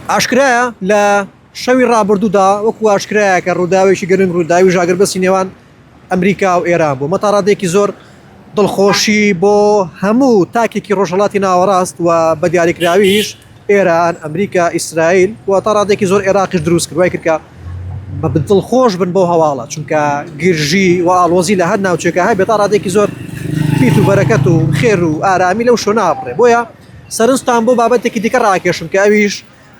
ئاشکرایە لە شەوی ڕابردوودا وەکو ئاشکرایە کە ڕووداوێکی گەرم ڕووداوی ژاگربەسی نێوان ئەمریکا و ئێران بوو مەتاڕادێکی زۆر دڵخۆشی بۆ هەموو تاکێکی ڕۆژهڵاتی ناوەڕاست و بە دیاریکراویش ئێران ئەمریکا ئیسرائیل و تا ڕادێکی زۆر عێراقیش دروست کردوای کردکە بە بدڵ خۆش بن بۆ هەواڵە چونکە گرژی و ئاڵۆزی لە هەر ناوچێکە هەبێت تا ڕادێکی زۆر پیت و بەرەکەت و خێر و ئارامی لەو شۆ نابڕێ بۆیە سەرنجتان بۆ بابەتێکی دیکە ڕاکێشم کە ئەویش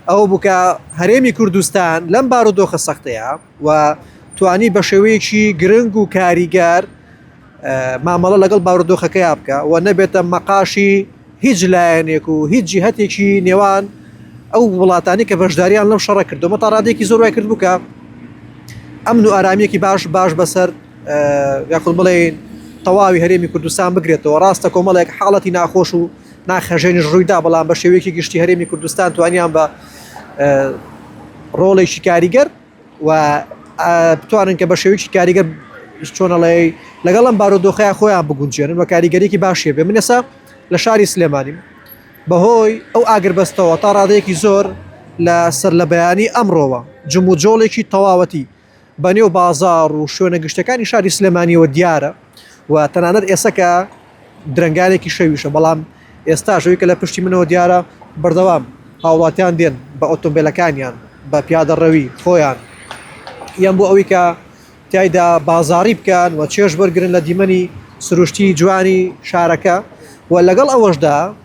ئەوە بوو کە هەرێمی کوردستان لەم بارودۆخە سەختەیە و توانی بە شێوەیەکی گرنگ و کاریگەر مامەڵە لەگەڵ بارودۆخەکەیا بکە و نەبێتە مەقاشی هیچ لایەنێک و هیچ جیهتێکی نێوان ئەو وڵاتانی کە بەشداریان لەم شەڕە کردو مە تاڕادێکی زۆر وای کرد بکە ئەمن و ئارامیەکی باش باش بەسەر یاخود بڵێین تەواوی هەرێمی کوردستان بگرێتەوە ڕاستە کۆمەڵێک حاڵەتی ناخۆش و ناخهەژێنش ڕوویدا بەڵام بە شێوەیەکی گشتی هەرێمی کوردستان توانیان بە ڕۆڵێکی کاریگەر و بتوانن کە بە شێوەیەکی کاریگەر چۆنەڵێ لەگەڵ ئەم بارودۆخەیە خۆیان بگونجێنن و کاریگەرێکی باشێ بێ من ئێسا لە شاری سلێمانیم بەهۆی ئەو ئاگربەستەوە تا ڕادەیەکی زۆر لە سەر لە بەیانی ئەمڕۆوە جموجۆڵێکی تەواوەتی بە نێو بازاڕ و شوێنە گشتیەکانی شاری سلێمانیەوە دیارە و تەنانەت ئێستا کە درەنگانێکی شەویشە بەڵام ئێستا شەوی کە لە پشتی منەوە دیارە بەردەوام هاوڵاتیان دێن بە ئۆتۆمبیلەکانیان بە پیادە ڕەوی خۆیان یان بۆ ئەوی کە تایدا بازاری بکەن و چێش بەرگرن لە دیمەنی سروشتی جوانی شارەکە و لەگەڵ ئەوەشدا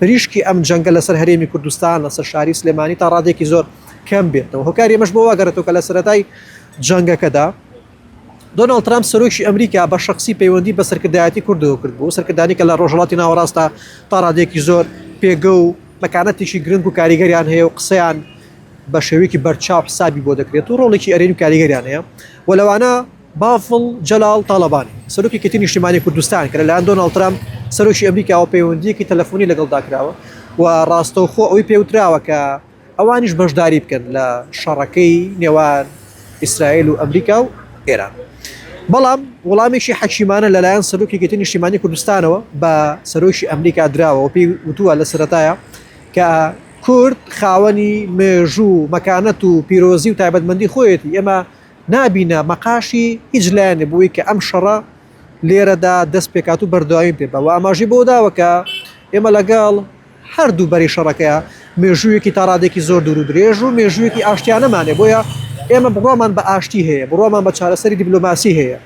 پریشکی ئەم جەنگە لەسەر هەرێمی کوردستان لەسەر شاری سلێمانی تا ڕادێکی زۆر کەم بێتەوە هۆکاری ئەمەش بۆ واگەڕێتەوە کە لە سەرەتای جەنگەکەدا دۆناڵد ترامپ سەرۆکی ئەمریکا بە شخصی پەیوەندی بە سەرکردایەتی کوردەوە کرد بوو سەرکردانی کە لە ڕۆژهڵاتی ناوەڕاستە تا ڕادێکی زۆر پێگە و مەکانەتێکی گرنگ و کاریگەریان هەیە و قسەیان بە شێوەیەکی بەرچاو حسابی بۆ دەکرێت و ڕۆڵێکی ئەرێنی کاریگەریان هەیە و لەوانە بافڵ جەلال تاڵەبانی، سەرۆکی کەیتی نیشتیمانی کوردستان کە لەلایەن دۆناڵد ترامپ، سەرۆکی ئەمریکاوە پەیوەندییەکی تەلەفۆنی لەگەڵدا کراوە و ڕاستەوخۆ ئەوەی پێ وتراوە کە ئەوانیش بەشداری بکەن لە شەڕەکەی نێوان ئیسرائیل و ئەمریکا و ئێران، بەڵام وڵامێکی حەکیمانە لەلایەن سەرۆکی کەیتی نیشتیمانی کوردستانەوە بە سەرۆکی ئەمریکا دراوە و پێی وتووە لە سەرەتایا کە کورد خاوەنی مێژوو و مەکانەت و پیرۆزی و تایبەتمەندی خۆیەتی، ئێمە نابینە مەقاشی هیچ لایەنێ بۆ ئەوەی کە ئەم شەڕە لێرەدا دەست پێکات و بەردەوامی پێ بە و ئاماژی بۆ داوە کە ئێمە لەگەڵ هەردوو بەری شەڕەکەیە مێژوویەکی تا ڕادێکی زۆر دوور و درێژ و مێژوویەکی ئاشتیانەمانێ بۆیە ئێمە بڕوامان بە ئاشتی هەیە بڕوامان بە چارەسەری دیبلۆماسی هەیە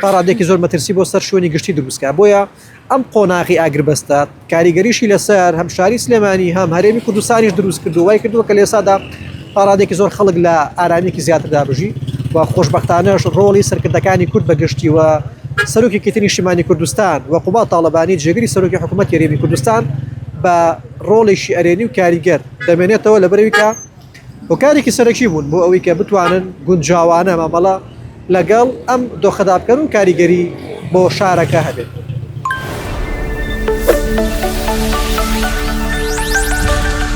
تا ڕادەیەکی زۆر مەترسی بۆ سەر شوێنی گشتی دروستکە بۆیە ئەم قۆناغی ئاگربەستە کاریگەریشی لەسەر هەم شاری سلێمانی هەم هەرێمی کوردستانیش دروست کردو وای کردووە کە لێسادا پاڕادێکی زۆر خەڵک لە ئارامیکی زیاتردا بژی و خۆشببختانەش ڕۆڵی سەرکردەکانی کورد بەگشتی و سەرۆکی کتنی شیمانی کوردستان و قوبا تاالبانی جێگری سەرۆکی حکوومەت یاریێمی کوردستان بە ڕۆڵێکی ئەرێنی و کاریگەر دەمێنێتەوە لە بەرەویکە هۆکارێکی سەرەکی بوون بۆ ئەوەی کە بتوانن گونجاوانە مامەڵە لەگەڵ ئەم دۆخەدا بکەن و کاریگەری بۆ شارەکە هەبێت.